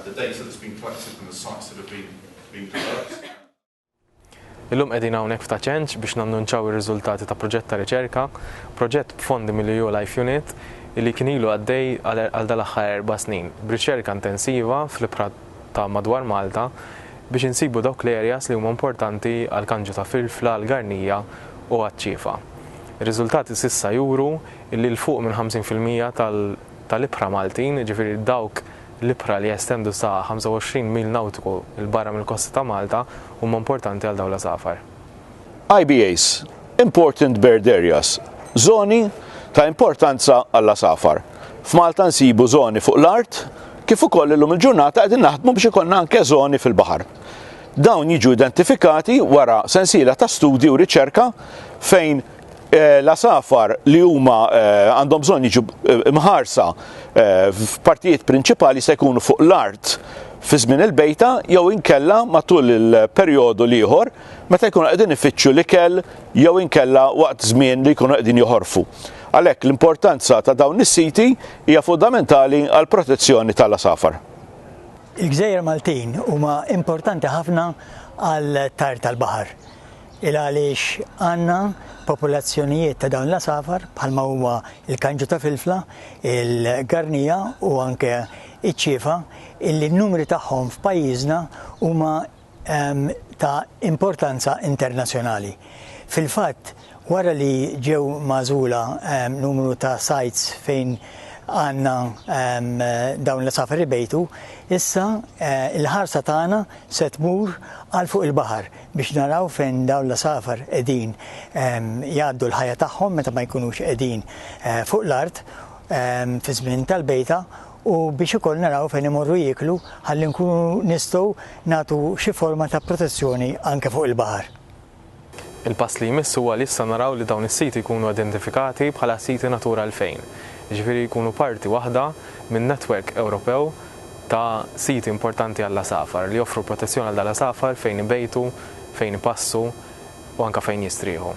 the data that's been collected from the sites that have been, been developed. Illum qegħdin hawnhekk f'ta' ċenċ biex nannunċaw ir-riżultati ta' proġett ta' riċerka, proġett b'fondi mill-EU Life Unit li kien ilu għaddej għal dal-aħħar erba' snin b'riċerka intensiva fl-ibħra ta' madwar Malta biex insibu dawk l-areas li huma importanti għal kanġu ta' filfla, għal garnija u għaċ-ċiefa. Ir-riżultati s'issa juru li 'l fuq minn 50 fil-mija tal-ibħra Maltin, jiġifieri dawk l-ibħra li jestendu sa 25 mil nawtiku 'l barra mill-kosta ta' Malta, huma importanti għal dawn l-għasafar. IBAs, Important Bird Areas, Żoni ta' importanza għall-għasafar. F'Malta nsibu żoni fuq l-art, kif ukoll illum il-ġurnata qegħdin naħdmu biex ikollna anke żoni fil-baħar. Dawn jiġu identifikati wara sensiela ta' studji u riċerka fejn Eh, l-asafar li huma eh, għandhom bżonn jiġu eh, mħarsa f'partijiet prinċipali se jkunu fuq l-art fi żmien il-bejta jew inkella matul il-perjodu li ieħor meta jkunu qegħdin ifittxu l-ikel jew inkella waqt żmien li jkunu qegħdin joħorfu. Għalhekk l-importanza ta' dawn is-siti hija fundamentali għall protezzjoni tal-asafar. Il-gżejjer Maltin huma importanti ħafna għal tajr tal-baħar il għaliex għandna popolazzjonijiet ta' dawn l-għasafar bħalma huma l-kanġu ta' filfla, il-garnija u anke iċ-ċiefa illi n-numri tagħhom f'pajjiżna huma ta' importanza internazzjonali. Fil-fatt, wara li ġew magħżula numru ta' sites fejn għandna dawn l-għasafar ibejtu, issa l-ħarsa tagħna se tmur għal fuq il-baħar biex naraw fejn dawn l-għasafar qegħdin jgħaddu l-ħajja tagħhom meta ma jkunux qegħdin fuq l-art fi żmien tal-bejta, u biex ukoll naraw fejn imorru jieklu ħalli nkunu nistgħu nagħtu xi forma ta' protezzjoni anke fuq il-baħar. Il-pass li jmiss huwa li issa naraw li dawn is-siti jkunu identifikati bħala siti Natura 2000, jiġifieri jkunu parti waħda minn netwerk Ewropew ta' siti importanti għall-għasafar, li joffru protezzjoni għal dal-għasafar fejn ibejtu, fejn ipassu u anke fejn jistrieħu.